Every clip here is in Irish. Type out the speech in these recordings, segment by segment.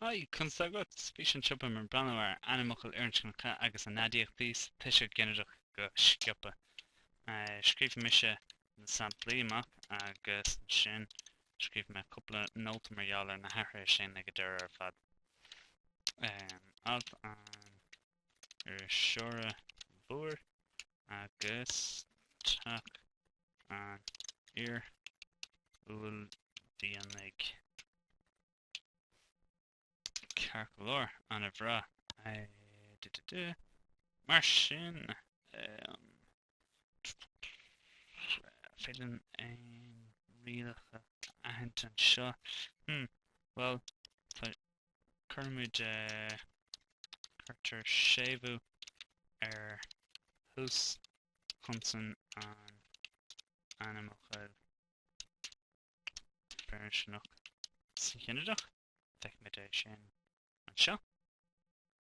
Haigh, conas tá agat? Sa bhfíseán seo beimid ag breathnú ar ainmfhocail fhirinscneacha agus a n-aidiachtaí sa tuiseal ginideach go sciobtha. Scríobh mise na samplaí amach agus ansin scríobh mé cúpla nóta mar gheall ar na hathruithe sin ag an deireadh ar fad. Alt an iriseora mhóir agus teach an fhir uaillmhianaigh, ceart go leor, ana-bhreá. Mar sin, an féidir linn aon rialacha a aithint anseo. Bhuel, tá Cuirimid cuirtear séimhiú ar thúschonsan an ainmfhocail fhirinscneach sa ghinideach. Feicimid é sin anseo.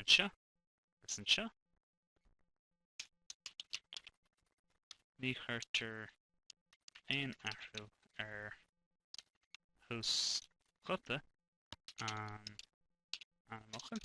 Anseo agus anseo. Ní chuirtear aon athrú ar thúsghuta an ainmfhocail.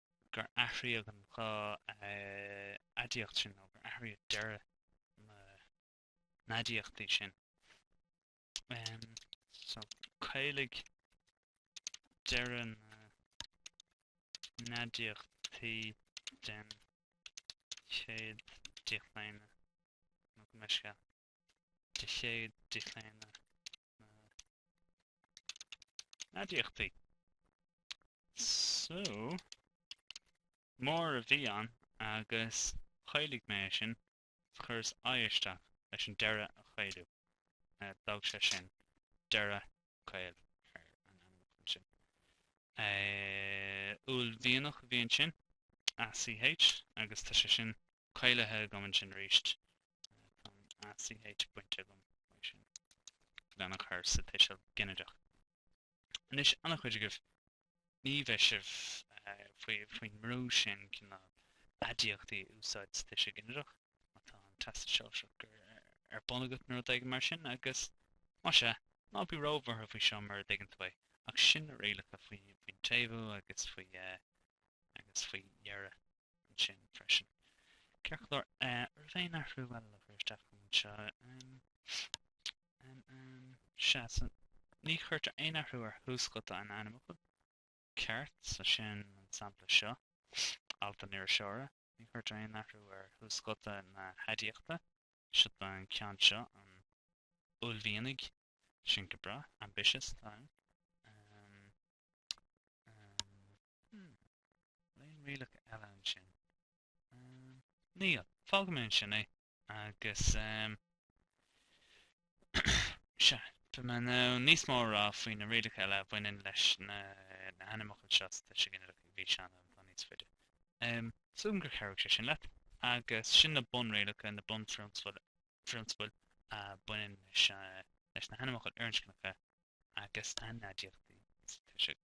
gur athraíodh an dá aidiacht sin nó gur athraíodh deireadh na n-aidiachtaí sin. So, caolaíodh deireadh na n-aidiachtaí den chéad díochlaonadh nó go mbeidh sé de chéad díochlaonadh aidiachtaí. So, mór a bhí ann agus chaolaigh mé é sin, chuireas i isteach leis an deireadh a chaolú. D'fhág sé sin deireadh caol ar an ainmfhocal ansin. Uaillmhianach a bhí ansin, ACH, agus tá sé sin caolaithe agam ansin arís. Tá an ACH bainte agam ansin lena chur sa tuiseal ginideach. Anois, an-chuid agaibh, ní bheidh sibh faoin mbrú sin cineál aidiachtaí a úsáid sa tuiseal ginideach má tá an Teastas Sóisearach ar bun agat nó rud éigin mar sin agus, más ea, ná bí róbhuartha faoi seo mura dtuigeann tú é, ach sin na rialacha faoin tséimhiú agus faoi dheireadh. ansin freisin. Ceart go leor, an raibh aon athrú eile le cur isteach anseo? Sea, ní chuirtear aon athrú ar thúschonsan an ainmfhocail ceart, so sin an sampla seo, alt an iriseora. Ní chuirtear aon athrú ar thúschonsan na haidiachta, seo don cheann seo, an uaillmhianaigh, sin go breá, ambitious, tá ann. Aon rialacha eile ansin? Níl. Fágfaidh mé ansin é agus sea, beidh mé in ann níos mó a rá faoi na rialacha eile a bhaineann leis na hainmfhocail seo sa tuiseal ginideach i bhfíseán eile atá níos faide. Súil agam gur chabhraigh sé sin leat agus sin na bunrialacha, na bunphrionsabail a bhaineann leis na hainmfhocail fhirinscneacha agus a n-aidiachtaí sa tuiseal.